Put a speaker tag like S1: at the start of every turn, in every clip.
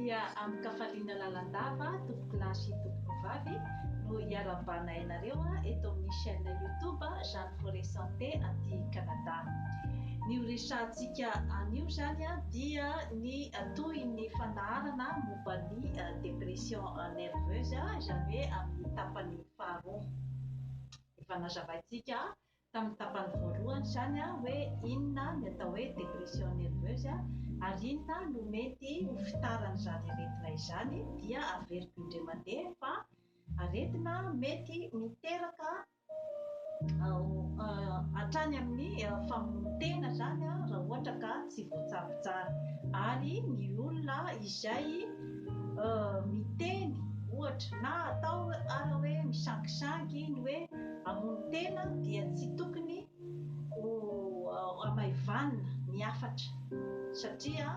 S1: dia amin-kafaliana lalandava tompoko lahy sy tompoko vavy no iarahabanay anareo eto amin'ny chaîne youtube Jeanne Forêt Santé aty Canada. Ny ho resahantsika anio izany dia ny tohin'ny fandaharana momba ny dépression nerveuse izany hoe amin'ny tapany faharoa. Efa nazavaintsika Tamin'ny tapany voalohany izany hoe inona ny atao hoe dépression nerveuse ary inona no mety ho fitaran'izany aretina izany dia averiko indray mandeha fa aretina mety miteraka hatrany amin'ny famonon-tena izany raha ohatra ka tsy voatsabo tsara ary ny olona izay miteny ohatra na atao ara hoe misangisangy ny hoe Hamono tena dia tsy tokony ho hamaivanina ny hafatra satria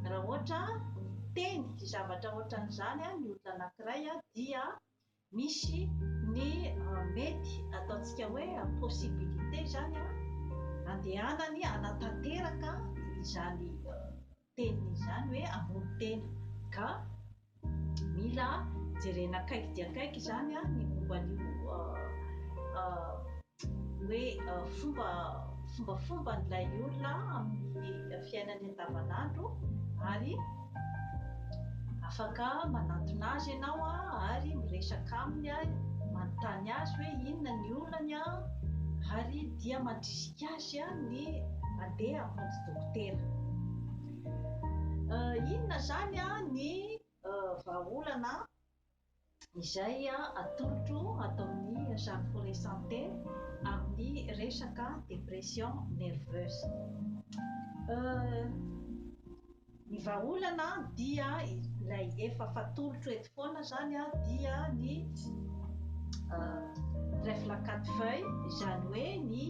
S1: raha ohatra miteny zavatra ohatran'izany ny olona anankiray dia misy ny mety ataontsika hoe possibilité izany handehanany hanatanteraka izany teniny izany hoe hamono tena ka mila jerena akaiky dia akaiky izany ny momba an'io hoe fomba fombafomban'ilay olona amin'ny fiainany andavanandro ary afaka manantona azy ianao ary miresaka aminy manontany azy hoe inona ny olany ary dia mandrisika azy Asia ny mandeha amin'ny fontsy dokotera. Inona izany ny vahaolana izay atolotro ataon'ny Jeanne Foret Santé amin'ny resaka dépression nerveuse? Ny vahaolana dia ilay efa fatolotro eto foana zany dia ny trèfle à quatre feuilles izany hoe ny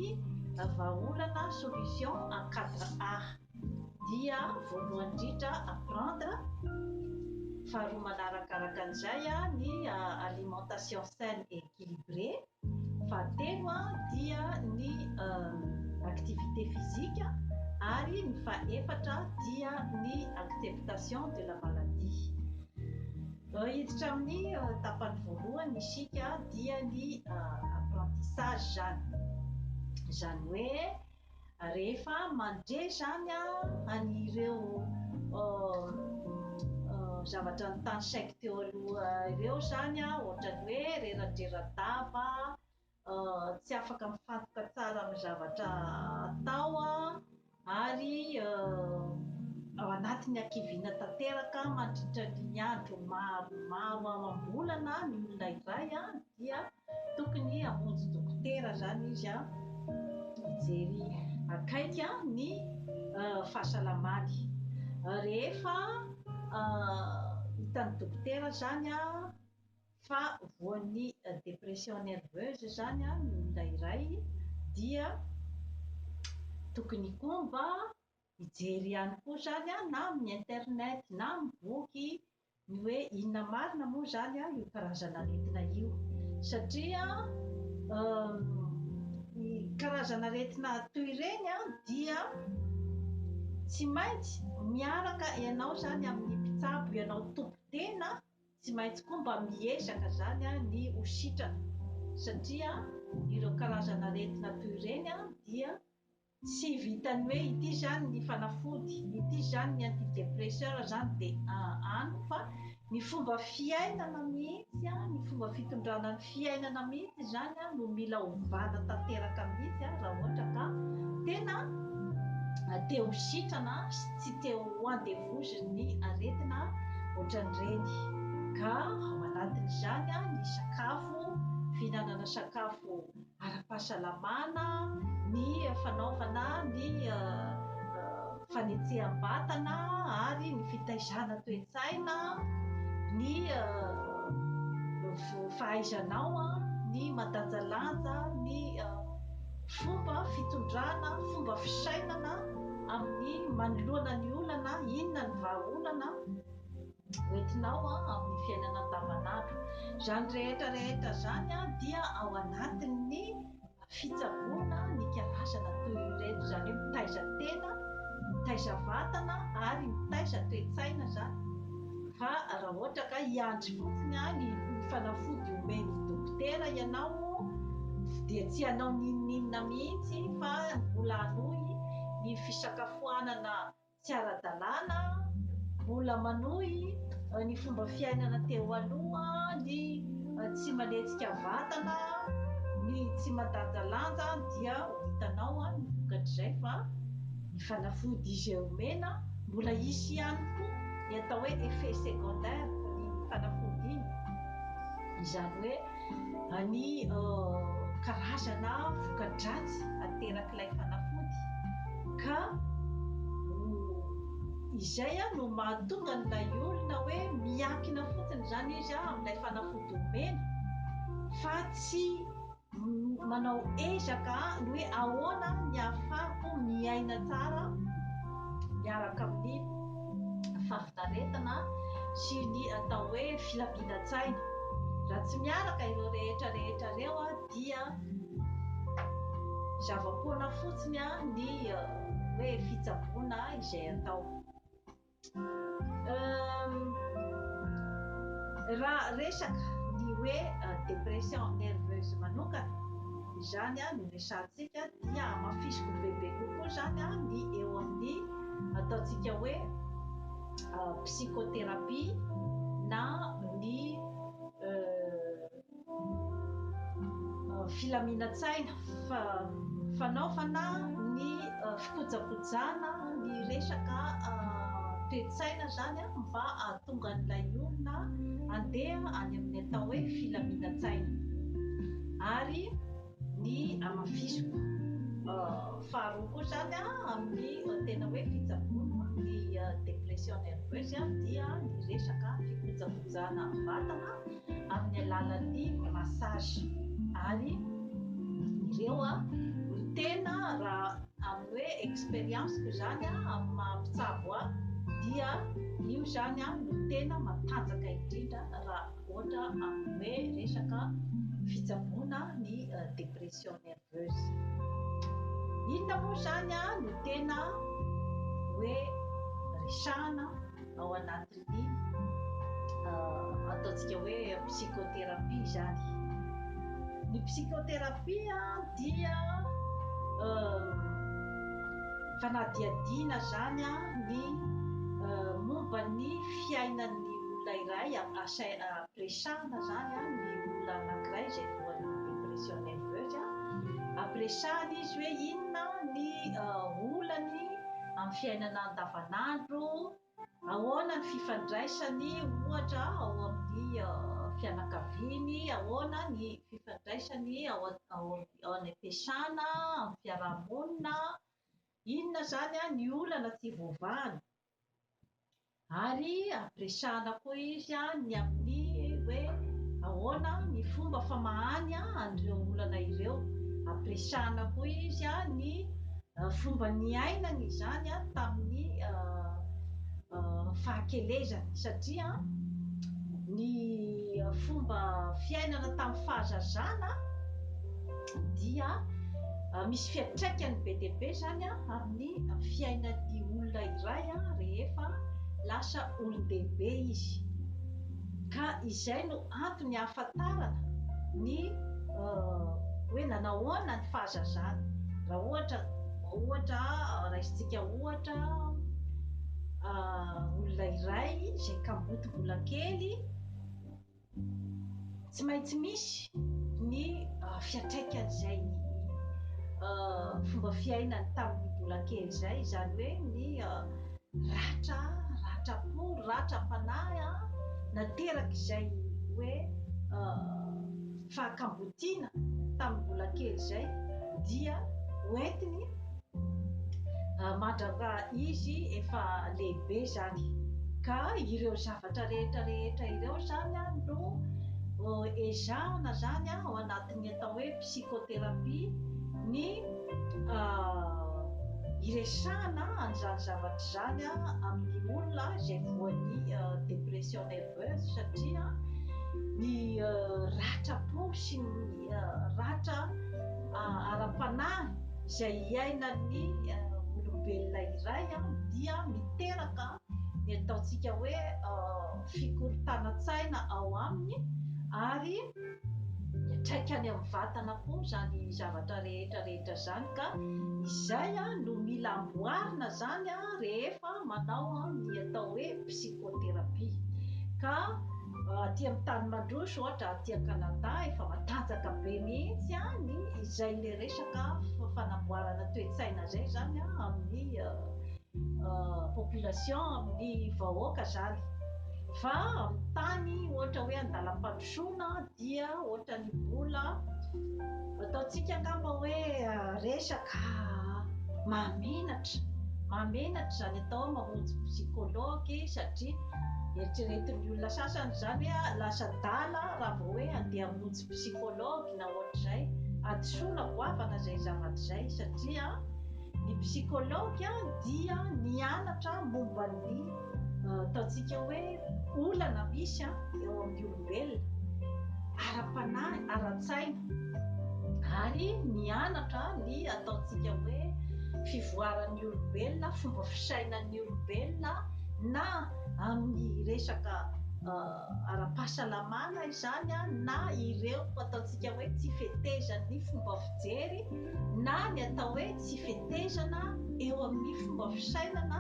S1: vahaolana solution en quatre A dia voalohany indrindra apprendre faharoa manaraka araka an'izay ny alimentation saine et équilibré fa telo dia ny activité physique ary ny fahefatra dia ny acceptation de la maladie. Hiditra amin'ny tapany voalohany isika dia ny apprentissage izany izany hoe Rehefa mandre izany an'ireo zavatra notany saiko teo aloha ireo izany, ohatran'ny hoe reradreradava, tsy afaka mifantoka tsara amin'ny zavatra atao ary ao anatin'ny hakiviana tanteraka mandritra ny andro maromaro amam-bolana ny olona iray. dia tokony hamonjy dokotera izany izy hijery akaiky ny fahasalamany rehefa hitan'ny dokotera izany fa voan'ny dépression nerveuse izany ny olona iray dia tokony koa mba hijery ihany koa izany na amin'ny internet na amin'ny boky Ny hoe inona marina moa izany io karazan'aretina io? Satria ny karazan'aretina toy ireny dia tsy maintsy miaraka ianao izany amin'ny mpitsabo ianao tompon-tena, tsy maintsy koa mba miezaka izany ny ho sitrana satria ireo karazan'aretina toy ireny dia Tsy vitan'ny hoe ity zany ny fanafody, ity zany ny antidepresseur zany de an fa ny fomba fiainana mihitsy an, ny fomba fitondrana ny fiainana mihitsy zany an no mila ovana tanteraka mihitsy an raha ohatra ka tena te ho sitrana sy tsy te ho andevozon'ny aretina ohatran'ireny ka ao anatin'izany an ny sakafo, fihinanana sakafo ara-pahasalamana, ny fanaovana ny fanetseham-batana ary ny fitaizana toe-tsaina, ny fahaizanao ny mandanjalanja ny fomba fitondrana, fomba fisainana amin'ny manoloana ny olana, inona ny vahaolana. hoentinao amin'ny fiainana andavanandro. Izany rehetra rehetra izany dia ao anatin'ny fitsaboana ny karazana toy ireto, izany hoe mitaiza tena, mitaiza vatana ary mitaiza toe-tsaina izany fa raha ohatra ka hiandry fotsiny ny fanafody omen'ny dokotera ianao dia tsy hanao n'inon'inona mihitsy fa mbola hanohy ny fisakafoanana Tsy ara-dalàna, mbola manohy ny fomba fiainana teo aloha, ny tsy manetsika vatana, ny tsy mandanjalanja dia ho hitanao ny vokatr'izay fa ny fanafody izay omena mbola hisy ihany koa ny atao hoe effet secondaire ny fanafody iny, izany hoe. ny karazana voka-dratsy aterak'ilay fanafody ka izay no mahatonga an'ilay olona hoe miankina fotsiny izany izy amin'ilay fanafody omena fa tsy manao ezaka ny hoe ahoana ny ahafahako miaina tsara miaraka amin'ny fahafinaretana sy ny atao hoe filaminantsaina. Raha tsy miaraka ireo rehetra rehetra ireo dia zava-poana fotsiny ny hoe fitsaboana izay atao. Raha resaka ny hoe dépression nerveuse manokana izany no resahantsika dia hamafisiko bebe kokoa izany ny eo amin'ny ataontsika hoe psychothérapie na ny filaminantsaina fa fanaovana ny fikojakojana ny resaka toetsaina zany a mba ahatonga an'ilay olona andeha any amin'ny atao hoe filaminantsaina ary ny hamafisiko. Faharoa koa izany amin'ny tena hoe fitsaboana ny dépression nerveuse dia ny resaka fikojakojana vatana amin'ny alalan'ny massage ary ireo no tena raha amin'ny hoe expérience-ko izany amin'ny maha mpitsabo ahy dia io izany no tena matanjaka indrindra raha Ohatra amin'ny hoe resaka fitsaboana ny dépression nerveuse. Inona moa izany no tena hoe resahana ao anatin'ny ataontsika hoe psychothérapie izany. Ny psychothérapie dia fanadihadiana izany ny momba ny fiainan'ny olona iray ampiresahana zany ny olona anakiray izay voan'ny depression nerveuse ampiresahana izy hoe inona ny olany amin'ny fiainana andavanandro ahoana ny fifandraisany ohatra ao amin'ny fianakaviany ahoana ny fifandraisany ao any am-piasana amin'ny fiarahamonina inona zany ny olana tsy voavahana Ary ampiresahana koa izy ny amin'ny hoe ahoana ny fomba famahany an'ireo olana ireo. Ampiresahana koa izy ny fomba niainany izany tamin'ny fahakelezany, satria ny fomba fiainana tamin'ny fahazazana, dia misy fiantraikany be dia be izany amin'ny fiainan'ny olona iray rehefa lasa olon-dehibe izy. Ka izay no antony hahafantarana ny hoe nanahoana ny fahazazany. Raha ohatra, ohatra, raisintsika ohatra olona iray izay kamboty mbola kely. Tsy maintsy misy ny fiantraikan'izay fomba fiainany tamin'ny mbola kely izay, izany hoe ny ratra, ratram-po, ratram-panahy naterak'izay hoe fahakambotiana tamin'ny mbola kely izay dia hoentiny Mandrapa izy efa lehibe izany ka ireo zavatra rehetra rehetra ireo izany no ezahana izany ao anatin'ny atao hoe psychothérapie ny hiresahana an'izany zavatra izany amin'ny olona izay voan'ny dépression nerveuse satria ny ratra-po sy ny ratra ara-panahy izay iainan'ny olombelona iray dia miteraka ny ataontsika hoe fikorontanan-tsaina ao aminy ary miatraika any amin'ny vatana koa izany zavatra rehetra rehetra izany ka izay no mila amboarina izany rehefa manao ny atao hoe psychothérapie ka Aty amin'ny tany mandroso ohatra aty Canada efa matanjaka be mihitsy ny izay le resaka fanamboarana toe-tsaina zay zany amin'ny population amin'ny vahoaka zany fa amin'ny tany ohatra hoe andalam-pandrosoana dia ohatran'ny mbola Ataontsika angamba hoe resaka mahamenatra. Mahamenatra izany atao mamonjy psychologue satria eritreretin'ny olona sasany izany hoe ah, lasa adala raha vao hoe andeha hamonjy psychologue na ohatr'izay. Hadisoana goavana izay zavatra izay satria ny psychologue dia nianatra momba ny ataontsika hoe olana misy eo amin'ny olona. ara-masoivelona, ara-panahy, ara-tsaina, ary mianatra ny ataontsika hoe fivoaran'ny olombelona, fomba fisainan'ny olombelona na amin'ny resaka ara-pahasalamana izany na ireo ataontsika hoe tsy fetezan'ny fomba fijery na ny atao hoe sy fetezana eo amin'ny fomba fisainana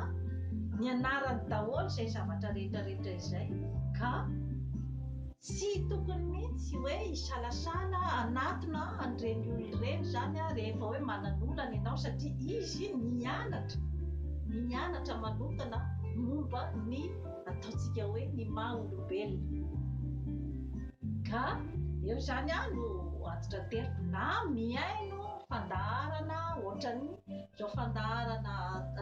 S1: nianarany daholo izay zavatra rehetra rehetra izay ka tsy tokony mihitsy hoe hisalasala hanatona an'ireny olona ireny izany aho rehefa hoe manana olana ianao satria izy nianatra nianatra manokana momba ny ataontsika hoe ny maha olombelona ka eo izany aho no antitra teriko na mihaino fandaharana ohatran'ny zao fandaharana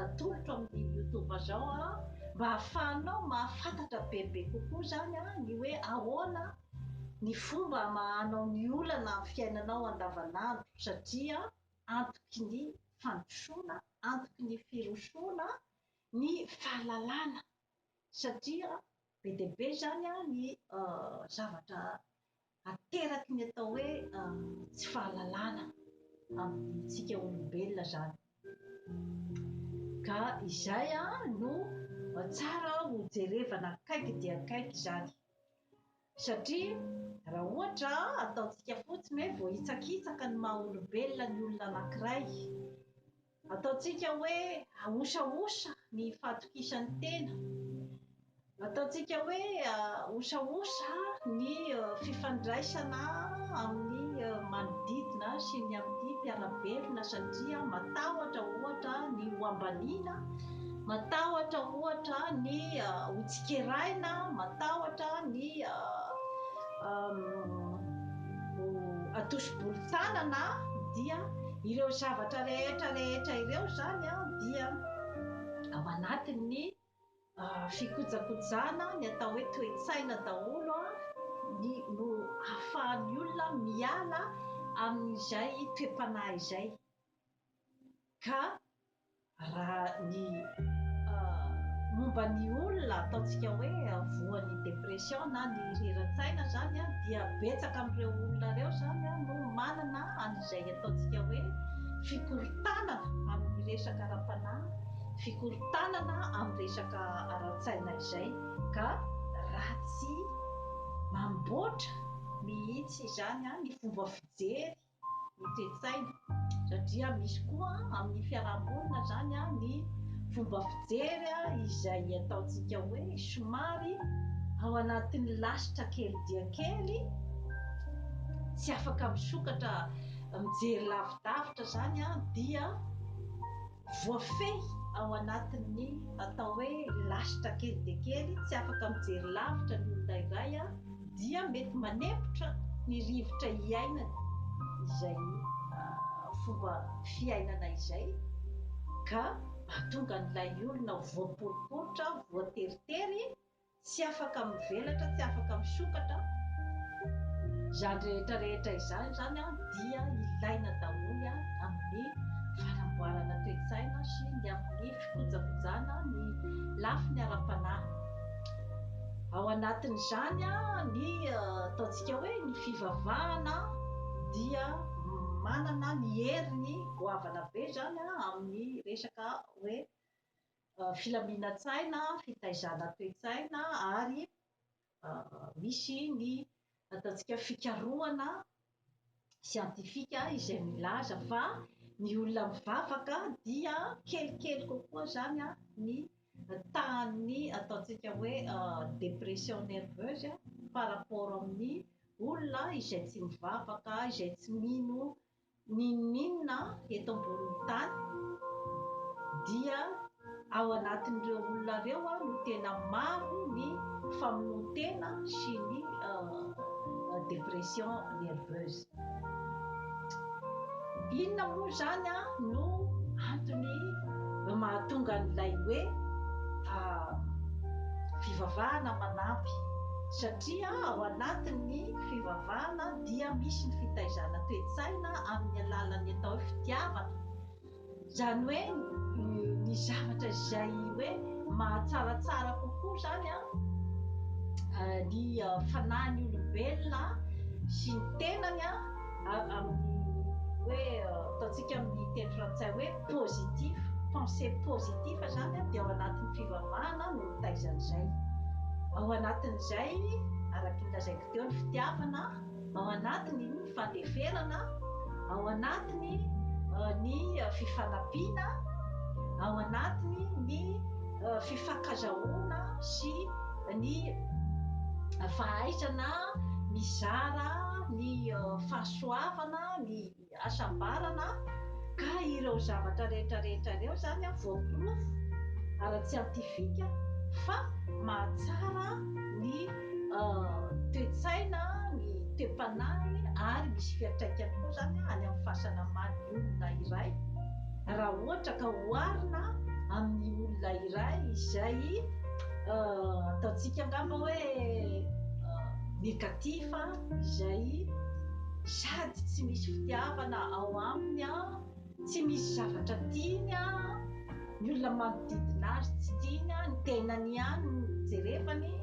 S1: atolotro amin'ny youtube zao a mba ahafahanao mahafantatra bebe kokoa zany a ny hoe ahoana ny fomba amahanao ny olana amin'ny fiainanao andavanandro satria antoky ny fandrosoana antoky ny firosoana ny fahalalana satria be dia be zany a ny zavatra ateraky ny atao hoe tsy fahalalana amintsika olombelona zany ka izay no tsara ho jerevana akaiky dia akaiky izany satria raha ohatra ataontsika fotsiny hoe voahitsakitsaka ny maha olombelona ny olona anankiray Ataontsika hoe ahosahosa ny fahatokisan'ny tena. Ataontsika hoe ahosahosa ny fifandraisana amin'ny manodidina sy ny amin'ny mpiara-belona satria matahotra ohatra ny ho ambaniana, matahotra ohatra ny ho tsikeraina, matahotra ny ho atosi-bolon-tanana dia Ireo zavatra rehetra rehetra ireo izany dia ao anatin'ny fikojakojana ny atao hoe toe-tsaina daholo ny no ahafahan'ny olona miala amin'izay toe-panahy izay ka Raha ny momba ny olona ataontsika hoe voan'ny dépression na ny rerantsaina zany an dia betsaka amin'ireo olona ireo zany an no manana an'izay ataontsika hoe fikorontanana amin'ny resaka ara-panahy, fikorontanana amin'ny resaka ara-tsaina izay ka raha tsy mamboatra mihitsy izany an ny fomba fijery Notsetsaina satria misy koa amin'ny fiaraha-monina izany ny fomba fijery izay ataontsika hoe somary ao anatin'ny lasitra kely dia kely, tsy afaka misokatra mijery lavidavitra izany dia. Voafehy ao anatin'ny atao hoe lasitra kely dia kely, tsy afaka mijery lavitra ny olona iray an, dia mety manempotra ny rivotra iainany izay fomba fiainana izay ka mahatonga an'ilay olona ho voaporiporitra, voateritery, Tsy afaka mivelatra, tsy afaka misokatra, izany rehetra rehetra izany izany dia ilaina daholo amin'ny fanamboarana toe-tsaina sy ny amin'ny fikojakojana ny lafiny ara-panahy. Ao anatin'izany ny ataontsika hoe ny fivavahana dia manana ny heriny goavana be izany amin'ny resaka hoe filaminantsaina, fitaizana toe-tsaina ary misy ny ataontsika fikarohana siantifika izay milaza fa ny olona mivavaka dia kelikely kokoa izany ny tahan'ny ataontsika hoe dépression nerveuse par rapport amin'ny olona izay tsy mivavaka, izay tsy mino N'inon'inona eto ambonin'ny tany dia ao anatin'ireo olona ireo no tena maro ny famonoan-tena sy ny dépression nerveuse. Inona moa izany no antony mahatonga an'ilay hoe fivavahana manampy? Satria ao anatin'ny fivavahana dia misy ny fitaizana toe-tsaina amin'ny alalan'ny atao hoe fitiavana, izany hoe ny zavatra izay hoe mahatsaratsara kokoa izany ny fanahin'ny olombelona sy ny tenany amin'ny hoe ataontsika amin'ny teny frantsay hoe positif, pensée positif izany dia ao anatin'ny fivavahana no mitaizana izay. Ao anatin'izay, araka ny lazain'i Eo ny fitiavana, ao anatiny ny fandeferana, ao anatiny ny fifanampiana, ao anatiny ny fifankazahoana sy ny fahaizana mizara ny fahasoavana, ny. hasambarana ka ireo zavatra rehetra rehetra ireo izany voaporofo ara-tsiantifika fa mahatsara ny toe-tsaina, ny toe-panahiny ary misy fiantraikany koa izany any amin'ny fahasalaman'ny olona iray raha ohatra ka oharina amin'ny olona iray izay ataontsika angamba hoe négatif. izay sady tsy misy fitiavana ao aminy an, tsy misy zavatra tiany an, ny olona manodidina azy tsy tiany an, ny tenany ihany no jerevany,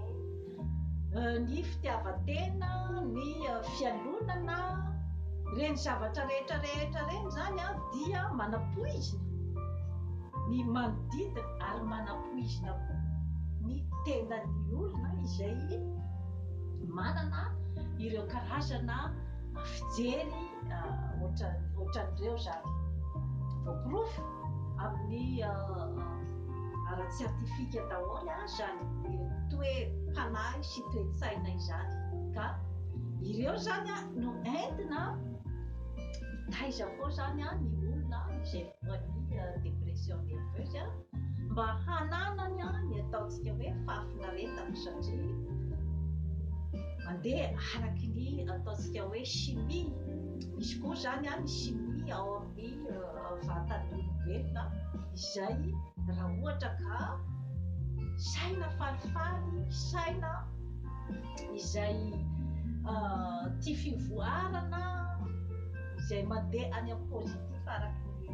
S1: ny fitiavan-tena, ny fialonana, ireny zavatra rehetra rehetra ireny izany an dia manapoizina ny manodidina ary manapoizina koa ny tenan'ny olona izay manana ireo karazana fijery ohatran'ireo izany. Voaporofo amin'ny ara-tsiantifika daholo izany toe-panahy sy toe-tsaina izany. Ka ireo izany no entina hitaiza koa izany ny olona izay ho an'ny dépression nerveuse mba hananany ny ataontsika hoe fahafinaretana satria mandeha araky ny ataontsika hoe chimie misy koa zany any chimie ao amin'ny vatan'ny olombelona izay raha ohatra ka saina falifaly saina izay tia fivoarana izay mandeha any am-positif Fa araka ny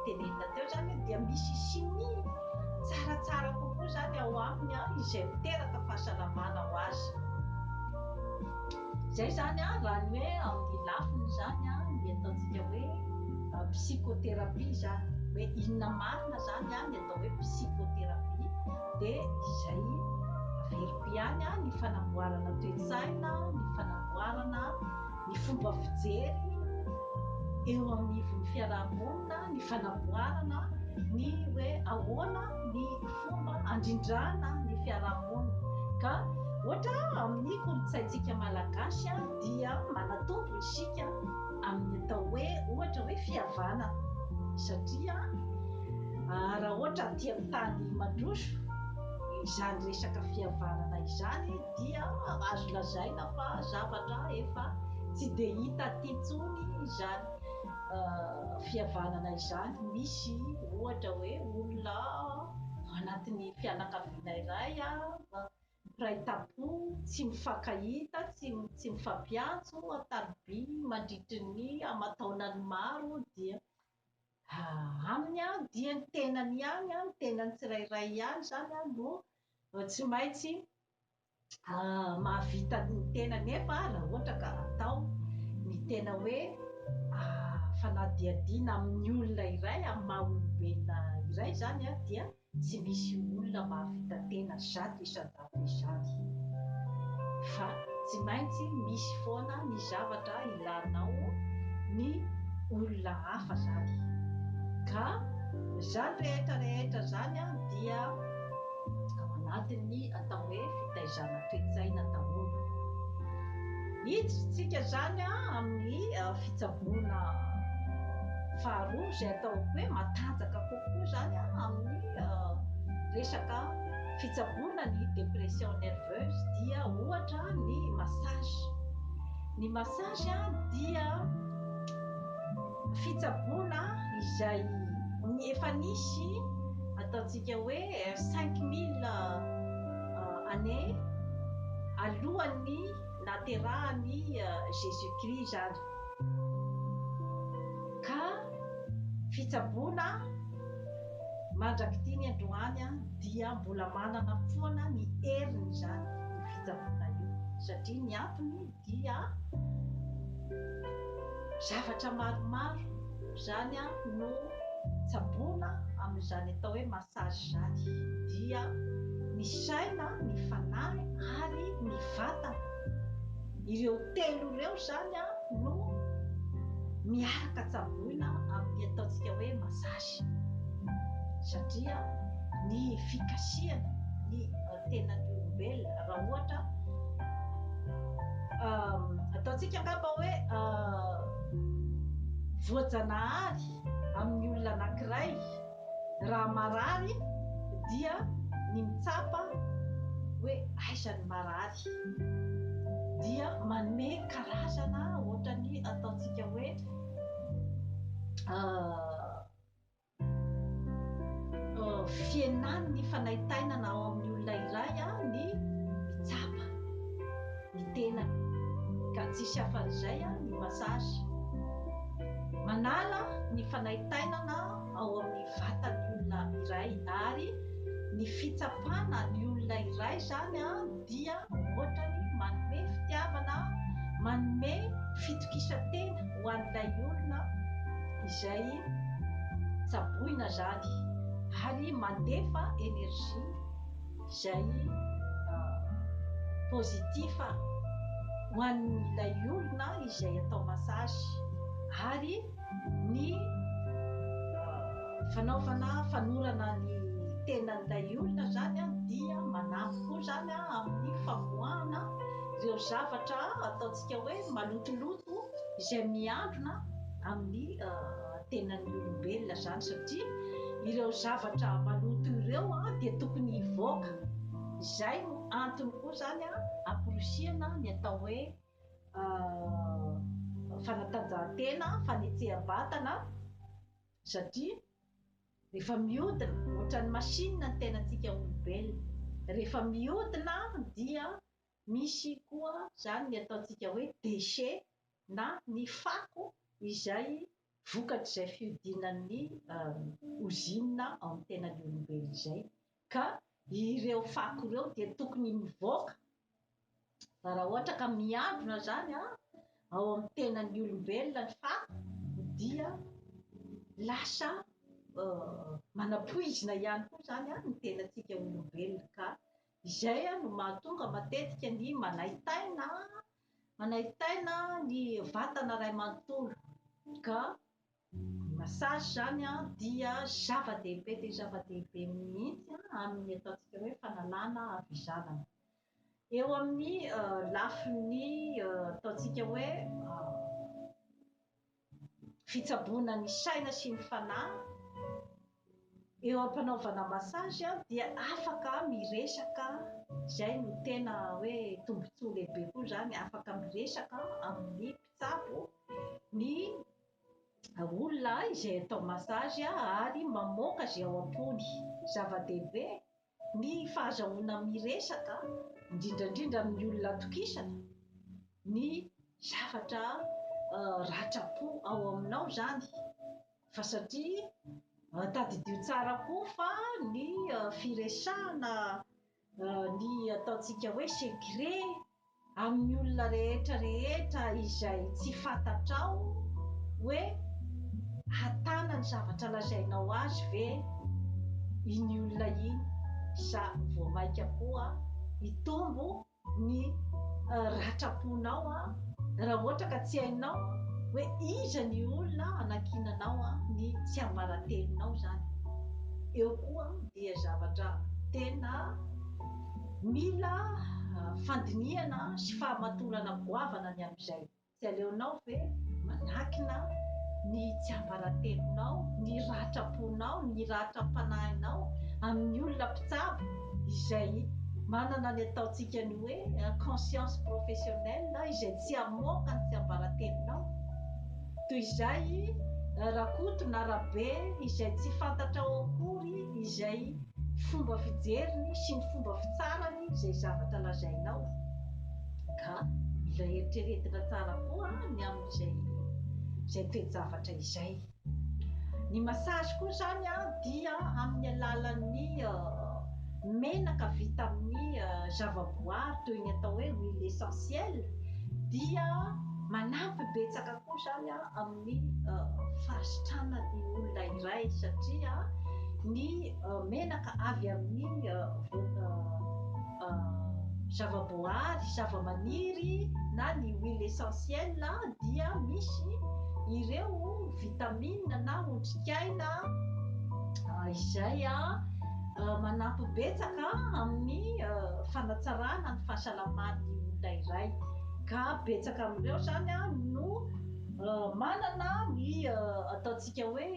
S1: tenenina teo izany hoe dia misy chimie tsaratsara kokoa izany ao aminy izay miteraka fahasalamana ho azy. Izay izany raha ny hoe amin'ny lafiny izany ny ataontsika hoe psychothérapie izany hoe inona marina izany ny atao hoe psychothérapie dia izay averiko ihany ny fanamboarana toe-tsaina, ny fanamboarana ny fomba fijery eo anivon'ny fiarahamonina, ny fanamboarana, ny hoe ahoana ny fomba andrindrana ny fiarahamonina. Ka ohatra amin'ny kolontsaintsika malagasy dia manatombo isika amin'ny atao hoe ohatra hoe fihavanana satria raha ohatra aty amin'ny tany mandroso izany resaka fihavanana izany dia azo lazaina fa zavatra efa tsy dia hita aty intsony izany fihavanana izany. Misy ohatra hoe olona ao anatin'ny fianakaviana iray mpiray tampo, tsy mifankahita, tsy mifampiantso an-tariby mandritry ny aman-taonany maro, dia aminy dia ny tenany ihany, ny tenany tsirairay ihany izany no Tsy maintsy mahavita ny tena nefa raha ohatra ka atao ny tena hoe fanadihadiana amin'ny olona iray, amin'ny maha olombelona iray izany dia tsy misy olona mahavita tena zato isan-jato izany fa tsy maintsy misy foana ny zavatra ilanao ny olona hafa izany ka izany rehetra rehetra izany dia ao anatin'ny atao hoe fitaizana toe-tsaina daholo. Hiditra isika izany amin'ny fitsaboana faharoa izay atao hoe matanjaka kokoa izany amin'ny resaka fitsaboana ny dépression nerveuse dia ohatra ny massage. Ny massage dia fitsaboana izay efa nisy ataontsika hoe cinq mille années alohan'ny nahaterahan'i Jésus Christ izany ka fitsaboana mandrak'ity ny androany dia mbola manana foana ny heriny izany io fitsaboana io satria ny antony dia zavatra maromaro izany no tsaboina amin'izany atao hoe massage izany, dia ny saina, ny fanahy ary ny vatana, ireo telo ireo izany no miaraka tsaboina amin'ny ataontsika hoe massage satria ny fikasihana, ny. tena ny olombelona raha ohatra ataontsika angamba hoe voajanahary amin'ny olona anankiray raha marary dia ny mitsapa hoe aiza ny marary dia manome karazana ohatrany ataontsika hoe fihenan'ny fanaintainana ao amin'ny olona iray ny mitsapa ny tenany ka tsisy afan'izay ny massage. Manala ny fanaintainana ao amin'ny vatan'ny olona iray ary ny fitsapana ny olona iray izany dia hoatrany manome fitiavana, manome fitokisan-tena ho an'ilay olona izay tsaboina izany ary mandefa énergie izay positif ho an'ilay olona izay atao massage ary Ny fanaovana fanorana ny tenan'ilay olona izany dia manampy koa izany amin'ny famoahana ireo zavatra ataontsika hoe malotoloto izay miandrona amin'ny tenan'ny olombelona izany satria ireo zavatra maloto ireo dia tokony hivoaka. Izay no antony koa izany amporisihana ny atao hoe fanatanjahantena, fanetsehan-batana satria rehefa mihodina ohatran'ny machine ny tenantsika olombelona, rehefa mihodina dia misy koa izany ny ataontsika hoe déchet na ny fako izay vokatr'izay fihodinan'ny ozinina ao amin'ny tenan'ny olombelona izay ka ireo fako ireo dia tokony mivoaka Fa raha ohatra ka miambina izany ao amin'ny tenan'ny olombelona ny fako dia lasa manapoizina ihany koa izany ny tenantsika olombelona ka izay no mahatonga matetika ny manaitaina manaitaina ny vatana iray manontolo ka. Ny massage izany dia zava-dehibe dia zava-dehibe mihitsy amin'ny ataontsika hoe fanalana havizanana. Eo amin'ny lafiny ataontsika hoe fitsaboana ny saina sy ny fanahy, eo am-panaovana massage dia afaka miresaka, izay no tena hoe tombontsoa lehibe koa izany, afaka miresaka amin'ny mpitsabo ny. olona izay atao massage ary mamoaka izay ao am-pony. Zava-dehibe ny fahazahoana miresaka, indrindra indrindra amin'ny olona atokisana, ny zavatra ratram-po ao aminao izany fa satria tadidio tsara koa fa ny firesahana Ny ataontsika hoe secret amin'ny olona rehetra rehetra izay tsy fantatrao hoe hatana ny zavatra lazainao azy ve iny olona iny sa vao maika koa hitombo ny ratram-ponao raha ohatra ka tsy hainao hoe iza ny olona anankinanao ny tsiambaratelonao izany eo koa dia zavatra tena mila fandinihana sy fahamatorana goavana ny amin'izay. Tsy aleonao ve manakina ny tsiambaratelonao, ny ratram-ponao, ny ratram-panahinao amin'ny olona mpitsabo izay manana ny ataontsika ny hoe inconscience professionnelle, izay tsy hamoaka ny tsiambaratelonao? Toy izay, Rakoto na Rabe izay tsy fantatrao akory izay fomba fijeriny sy ny fomba fitsarany izay zavatra lazainao. Ka mila eritreretina tsara koa ny amin'izay izay toe-javatra izay. Ny massage koa izany dia amin'ny alalan'ny menaka vita amin'ny zava-boary toy ny atao hoe huile essentielle dia Manampy betsaka koa izany amin'ny fahasitranan'ny olona iray satria ny menaka avy amin'ny zavaboahary, zavamaniry na ny huile essentielle dia misy ireo vitamines na otrikaina izay manampy betsaka amin'ny fanatsarana ny fahasalaman'ny olona iray. ka betsaka amin'ireo izany no manana ny ataontsika hoe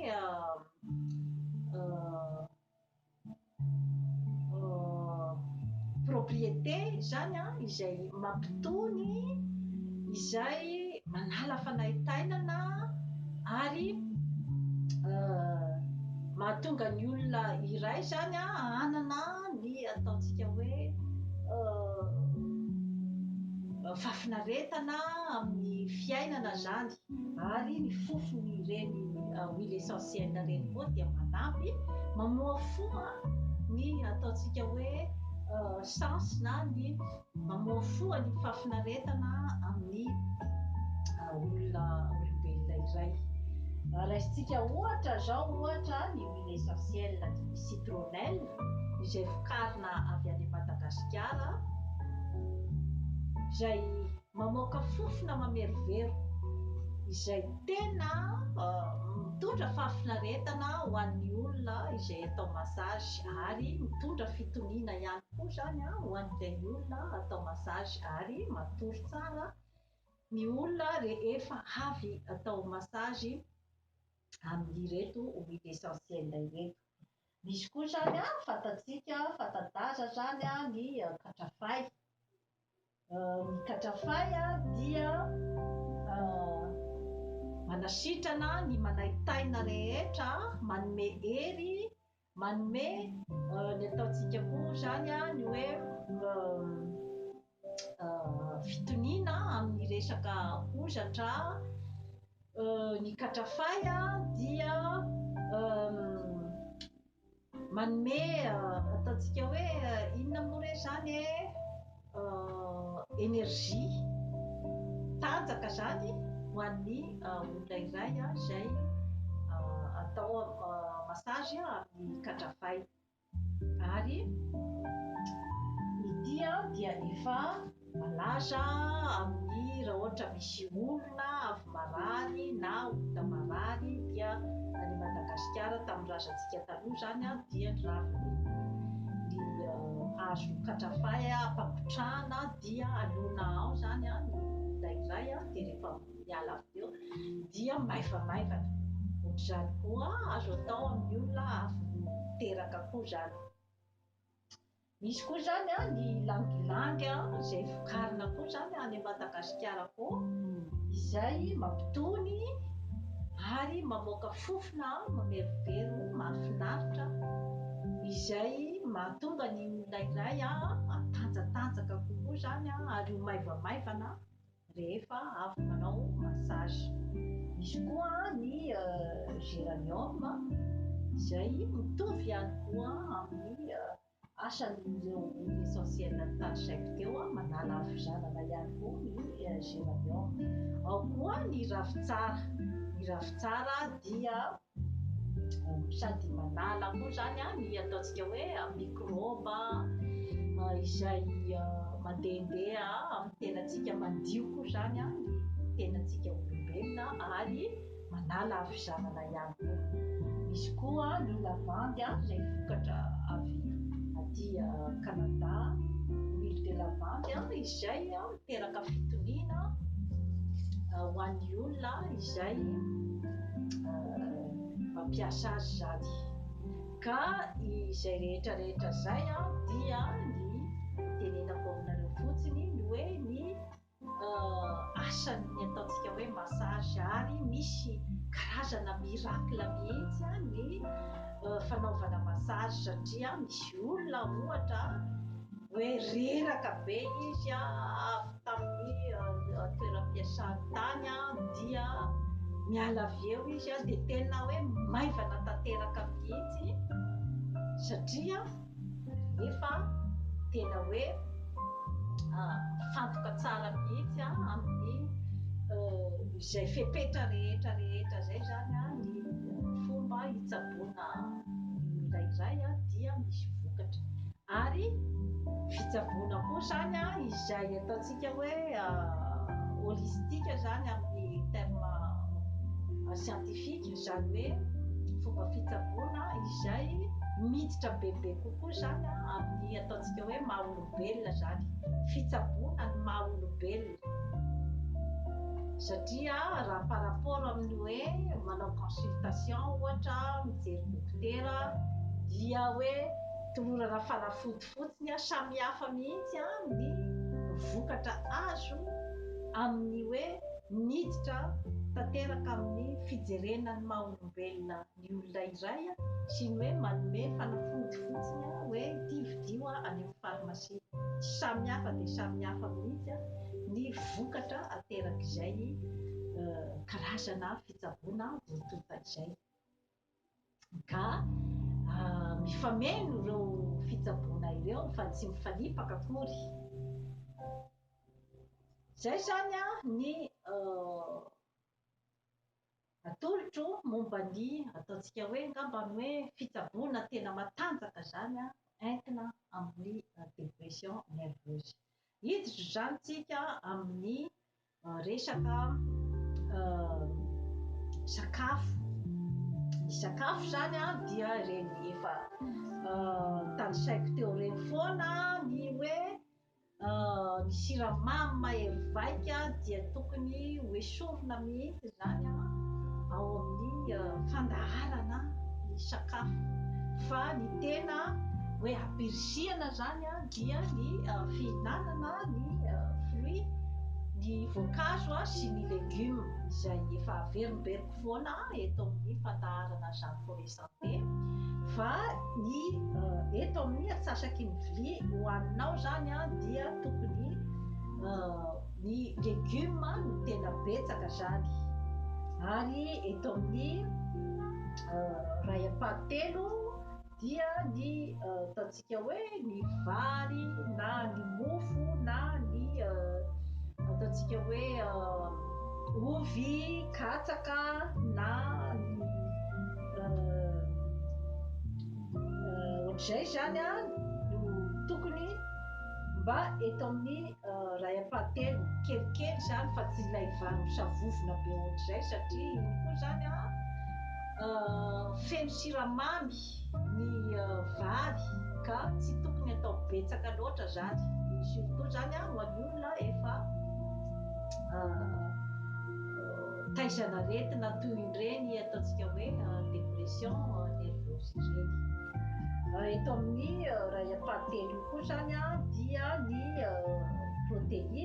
S1: propriété izany izay mampitony izay manala fanaintainana ary mahatonga ny olona iray izany hanana ny ataontsika hoe fahafinaretana amin'ny fiainana zany ary ny fofony ireny huile essentielle ireny koa dia manampy mamohafoha ny ataontsika hoe sens na ny mamohafoha ny fahafinaretana amin'ny olona olombelona iray raisintsika ohatra zao ohatra ny huile essentielle citronnelle izay vokarina avy any Madagasikara izay mamoaka fofona mamerovero izay tena mitondra fahafinaretana ho an'ny olona izay atao massage ary mitondra fitoniana ihany koa izany ho an'ilay olona atao massage ary matory tsara ny olona rehefa avy atao massage amin'ireto huile essentielle ireto. Misy koa zany an, fantatsika an, fanta-daza zany an ny katrafay. Ny katrafay an dia manasitrana ny manaitaina rehetra, manome hery, manome ny ataontsika koa zany an ny hoe fitoniana amin'ny resaka hozatra ny katrafay dia manome ataontsika hoe inona moa re zany e énergie tanjaka zany ho an'ny olona iray izay atao massage amin'ny katrafay Ary ity an dia efa malaza amin'ny raha ohatra misy olona avy marary na olona marary dia any Madagasikara tamin'ny razantsika taloha izany an dia ny raviny ny hazo katrafay ampangotrahana dia alona ao izany an ny indraindray an dia rehefa miala avy teo dia maivamaivana. Ohatr'izany koa azo atao amin'ny olona avy teraka koa izany. Misy koa izany ny ilangilangy izay vokarina koa izany any Madagasikara koa izay mampitony ary mamoaka fofona mamerovero mahafinaritra izay mahatonga ny olona iray hatanjatanjaka kokoa izany ary ho maivamaivana rehefa avy manao massage. Misy koa ny geranium izay mitovy ihany koa amin'ny asan'ireo huile essentielle tarisaiko teo a manala havizanana ihany koa ny geranium. Ao koa ny ravintsara, ny ravintsara dia Sady manala koa izany ny ataontsika hoe mikrôba izay mandehandeha amin'ny tenantsika, mandio koa izany ny tenantsika olombelona ary manala havizanana ihany koa. Misy koa ny lavandy izay vokatra avy aty Kanada, huile de lavande, izay. Teraka fitoniana ho an'ny olona izay mampiasa azy izany. Ka izay rehetrarehetra izay dia ny tenenako aminareo fotsiny ny hoe ny asan'ny ataontsika hoe massage ary misy karazana miracle mihitsy ny fanaovana massage satria misy olona ohatra Hoe reraka be izy avy tamin'ny toeram-piasany tany dia miala avy eo izy dia tena hoe maivana tanteraka mihitsy satria efa tena hoe mifantoka tsara mihitsy amin'ny izay fepetra rehetra rehetra izay izany ny fomba hitsaboana ny olona iray dia misy vokatra. Ary fitsaboana koa izany izay ataontsika hoe holistique izany amin'ny terme scientifique, izany hoe fomba fitsaboana izay miditra bebe kokoa izany amin'ny ataontsika hoe maha olombelona izany, fitsaboana ny maha olombelona. Satria raha par rapport amin'ny hoe manao consultation ohatra, mijery dokotera dia hoe Tolorana fanafody fotsiny an, samy hafa mihitsy an ny vokatra azo amin ny hoe miditra tanteraka amin ny fijerena ny maha olombelona ny olona iray an, sy ny hoe manome fanafody fotsiny an hoe ity vidio an any amin farmasia. Samy hafa dia samy hafa mihitsy an ny vokatra aterak izay karazana fitsaboana voatonta izay. Ka mifameno ireo fitsaboana ireo fa tsy mifanipaka akory. Izay izany ny atolotro momba ny ataontsika hoe angambany hoe fitsaboana tena matanjaka izany entina amin'ny dépression nerveuse. Hiditra izany tsika amin'ny Resaka sakafo, ny sakafo zany a dia ireny efa tanisaiko teo ireny foana ny hoe ny siramamy mahery vaika dia tokony ho esorina mihitsy izany ao amin'ny fandaharana ny sakafo fa ny tena hoe ampirisihana izany dia ny fihinanana ny fruit, ny voankazo sy ny legume izay efa averimberiko foana eto amin'ny fandaharana izany koa rehetra. be fa ny eto amin'ny atsasaky ny vilia hohaninao zany an dia tokony ny legioma no tena betsaka zany ary eto amin'ny ray ampahatelo dia ny Dia hoe ny vary na ny mofo na ny ataontsika hoe ovy, katsaka na ny ohatr'izay izany no tokony mba eto amin'ny iray ampahatelony kelikely izany fa tsy ilay vary misavovona be ohatr'izay satria iny koa izany feno siramamy. matetika. Ny vary ka tsy tokony atao betsaka loatra zany, surtout zany ho an'ny olona efa taizan'aretina toy ireny ataontsika hoe dépression nerveuse ireny. Eto amin'ny raha iam-pahatelo io koa zany dia ny protéine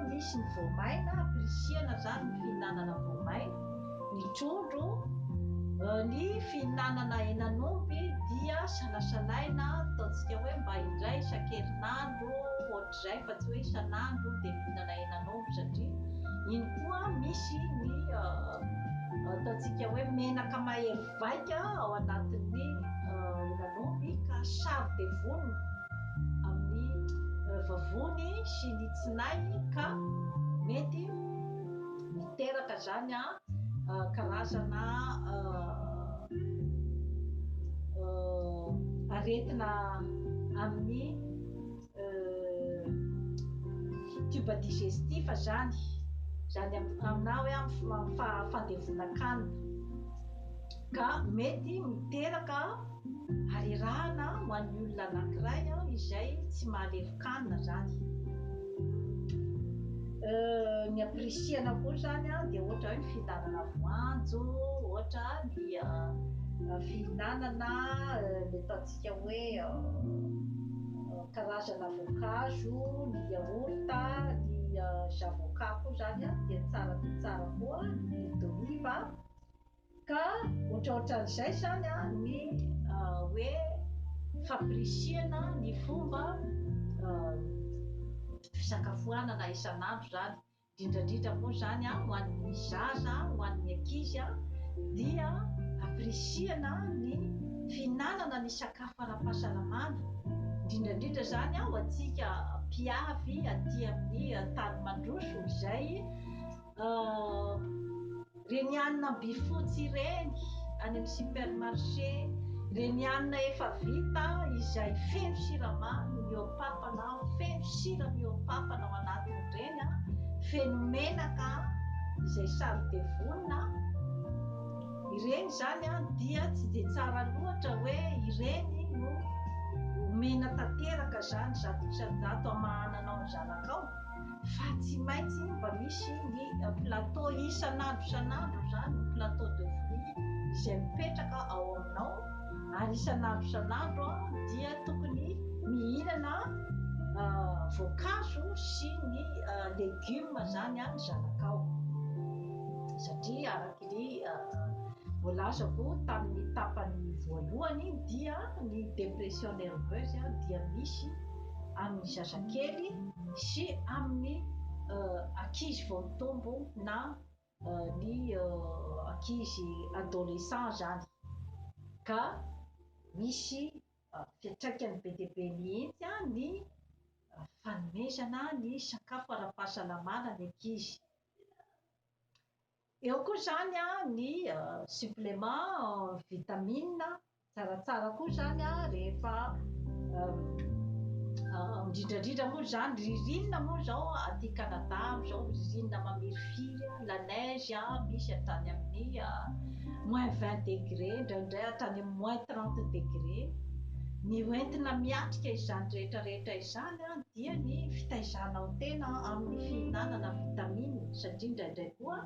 S1: misy ny voamaina, ampirisihana zany ny fihinanana voamaina. Ny trondro, ny fihinanana henan'omby dia salasalaina, ataontsika hoe mba indray isan-kerinandro, ohatr'izay fa tsy hoe isan'andro dia mihinana henan'omby satria iny koa misy ny ataontsika hoe menaka mahery vaika ao anatin'ny henan'omby ka saro dia vonona amin'ny vavony sy ny tsinay ka mety Miteraka zany a karazana aretina amin'ny tube digestif zany, zany aminà hoe amin'ny fahandevonan-kanina. ka mety miteraka harerahana ho an'ny olona anankiray izay tsy mahalevokanina izany. Ny ampirisihana koa izany dia ohatra hoe ny fihinanana voanjo, ohatra ny fihinanana ilay ataontsika hoe karazana voankazo, ny yaourt, ny zavoka koa izany dia tsara dia tsara koa, ny huile d'olive. Ka ohatraohatran'izay izany ny hoe fampirisihana ny fomba fisakafoanana isan'andro izany, indrindrandrindra moa izany ho an'ny zaza, ho an'ny ankizy dia ampirisihana ny fihinanana ny sakafo ara-pahasalamana, indrindrandrindra izany ho antsika mpiavy aty amin'ny tany mandroso izay. Renianina by fotsy ireny any amin'ny supermarché, renianina efa vita izay feno siramamy mihoa-papana, feno sira mihoa-papana ao anatin'ireny, feno menaka izay sary dia vonona, ireny izany dia tsy dia tsara loatra hoe ireny no omena tanteraka izany zato isan-jato hamahananao ny zanakao. fa tsy maintsy mba misy ny plateau isan'andro isan'andro izany ny plateau de fruits izay mipetraka ao aminao ary isan'andro isan'andro dia tokony mihinana voankazo sy ny legioma izany any zanakao satria araka ny voalazako tamin'ny tapany voalohany dia ny dépression nerveuse dia misy amin'ny zazakely sy amin'ny ankizy vao mitombo na ny ankizy adolescent zany ka misy fiantraikany be dia be mihitsy ny fanomezana ny sakafo ara-pahasalamana ny ankizy. Eo koa izany ny supplément vitamine, tsaratsara koa izany rehefa indrindrandrindra moa izany ririnina moa izao aty Canada amin'izao ririnina mamirifiry, la neige misy hatrany amin'ny moins vingt degré, indraindray hatrany amin'ny moins trente degré. Ny hoentina miatrika izany rehetrarehetra izany dia ny fitaizanao tena amin'ny fihinanana vitamine satria indraindray koa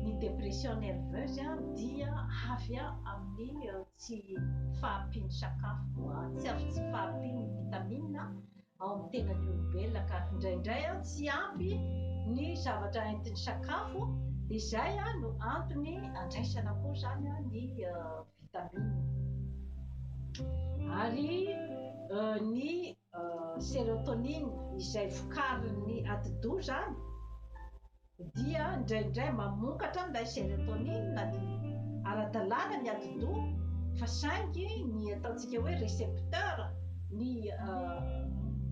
S1: ny dépression nerveuse dia avy amin'ny tsy fahampian'ny sakafo, tsy avy tsy fahampian'ny vitamina ao amin'ny tenan'ny olombelona ka indraindray tsy ampy ny zavatra entin'ny sakafo dia izay no antony andraisana koa izany ny vitamina ary ny serotonine izay vokarin'ny atidoha izany dia indraindray mamokatra ny lay serotonin na dia ara-dalàna ny atidoha fa saingy ny ataontsika hoe recepteur ny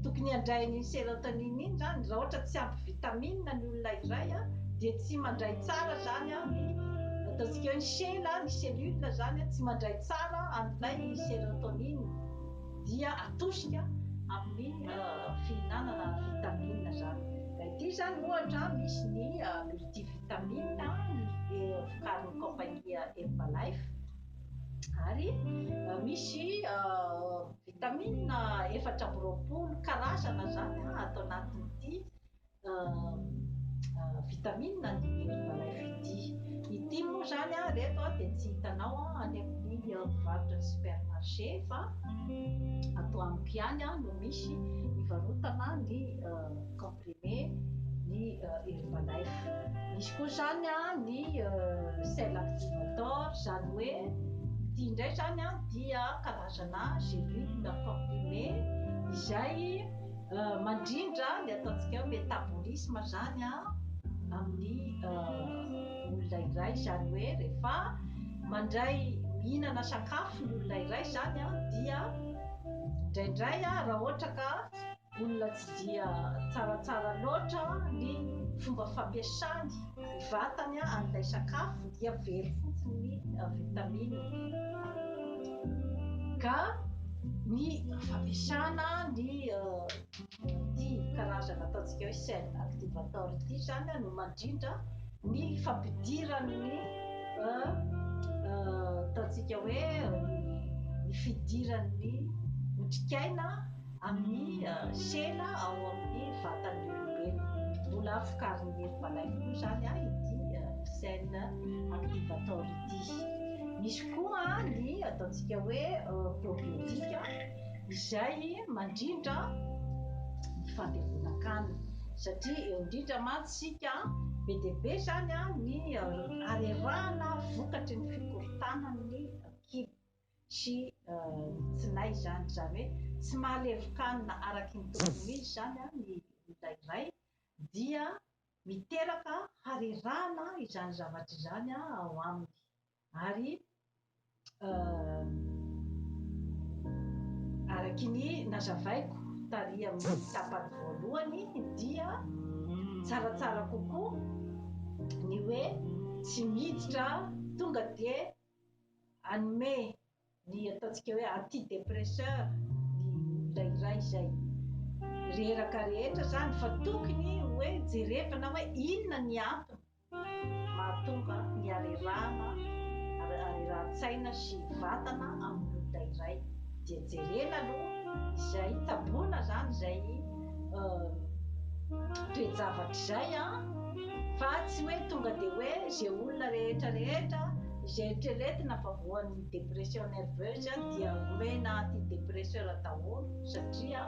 S1: tokony handrainy iny serotonin iny zany raha ohatra tsy ampy vitamine ny olona iray dia tsy mandray tsara zany ny ataontsika hoe ny sela ny cellule zany tsy mandray tsara an'ilay serotonin. dia atosika amin'ny fihinanana vitamina izany. Ity izany ohatra misy ny multivitamine vokarin'ny kaompania Herbalife ary misy vitamina efatra amby roapolo karazana izany ato anatin'ity vitamine ny Minervalain Fidi. Ity moa izany an, ireto an, dia tsy hitanao an, any amin'ny mpivarotra ny supermarché fa ato amiko ihany an, no misy hivarotana ny comprimé ny Herbalife. Misy koa izany an, ny sel activator, izany hoe ity indray izany an, dia karazana gélule comprimé izay Mandrindra ny ataontsika hoe metabolisme zany amin'ny olona iray zany hoe rehefa mandray mihinana sakafo ny olona iray zany dia indraindray raha ohatra ka olona tsy dia tsaratsara loatra ny fomba fampiasany Ny vatany an'ilay sakafo dia very fotsiny ny vitamine. Ka ny fampiasana ny ity karazana ataontsika hoe cell activator ity izany no mandrindra ny fampidiran'ny ataontsika hoe ny fidiran'ny otrikaina Amin'ny sela ao amin'ny vatan'ny olombelona. Mbola vokarin'ny hery malainy koa izany ity cell activator ity. Misy koa ny ataontsika hoe probiotika izay mandrindra ny fandevonan-kanina satria eo indrindra mantsy isika be dia be izany ny harerahana vokatry ny fikorontanan'ny kibo. sy ny tsinay izany, izany hoe tsy mahalevokanina araky ny tokony ho izy izany ny olona iray, dia miteraka harerahana izany zavatra izany ao aminy, ary araky ny nazavaiko tary amin'ny tapany voalohany dia tsaratsara kokoa ny hoe tsy miditra tonga dia hanome ny ataontsika hoe antidepresseur ny olona iray izay reraka rehetra izany fa tokony hoe jerevana hoe inona ny antony mahatonga ny harerahana harerahan-tsaina sy vatana amin'ny olona iray dia jerena aloha izay taboana izany izay toe-javatra izay fa tsy hoe tonga dia hoe izay olona rehetra rehetra izay eritreretina fa voan'ny dépression nerveuse dia omena antidépresseur daholo satria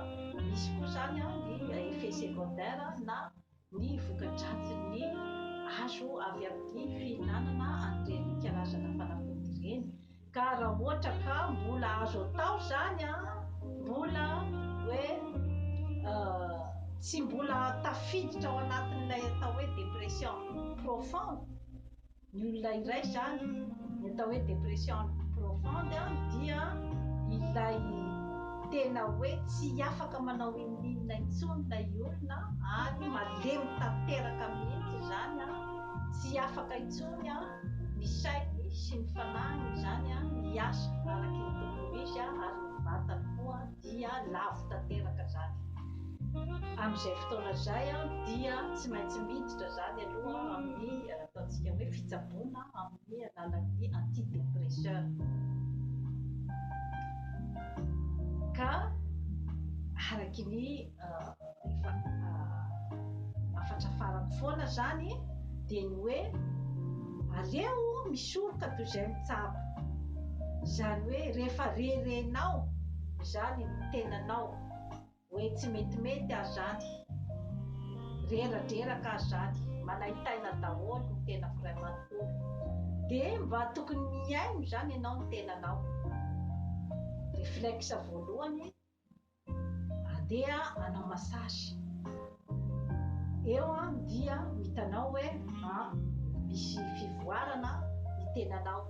S1: misy koa izany ny effet secondaire na Ny voka-dratsin'ny azo avy amin'ny fihinanana an'ireny karazana fanafody ireny ka raha ohatra ka mbola azo atao izany an, mbola hoe tsy mbola tafiditra ao anatin'ilay atao hoe dépression profonde, Ny olona iray izany, ny atao hoe dépression profonde dia ilay tena hoe tsy afaka manao inon'inona intsony ilay olona ary malemy tanteraka mihitsy izany, tsy afaka intsony ny sainy sy ny fanahiny izany miasa araka ny tokony ho izy ary ny vatany koa dia lavo tanteraka izany. Amin'izay fotoana izay dia tsy maintsy miditra izany aloha amin'ny. Ataontsika hoe fitsaboana amin'ny alalan'ny antidépresseurs. Ka araky ny efa hafatra farany foana zany dia ny hoe aleo misoroka toy izay mitsabo. Izany hoe rehefa rerenao izany ny tenanao. Hoe tsy metimety aho zany, reradreraka aho zany, manaintaina daholo ny tenako ray manontolo, de mba tokony mihaino zany enao ny tenanao? Reflexe voalohany andeha anao massage eo an dia mitanao hoe an misy fivoarana ny tenanao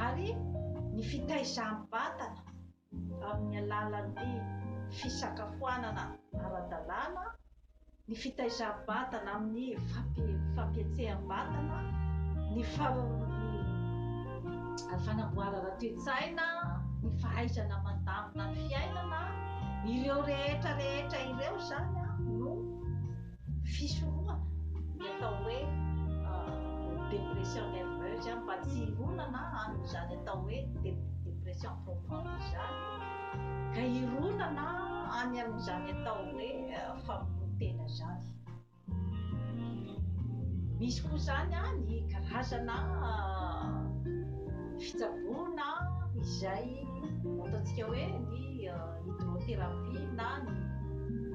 S1: ary ny fitaizam-batana amin'ny alalan'ny fisakafoanana ara-dalàna, ny fitaizam-batana amin'ny fampietseham-batana, ny fanamboarana toe-tsaina, ny fahaizana mandamina ny fiainana, ireo rehetra rehetra ireo izany no. fisorohana ny atao hoe dépression nerveuse mba tsy hironana amin'izany atao hoe dépression profonde izany ka hironana any amin'izany atao hoe famonoan-tena izany. Misy koa izany any karazana fitsaboana izay ataontsika hoe ny hydrothérapie na ny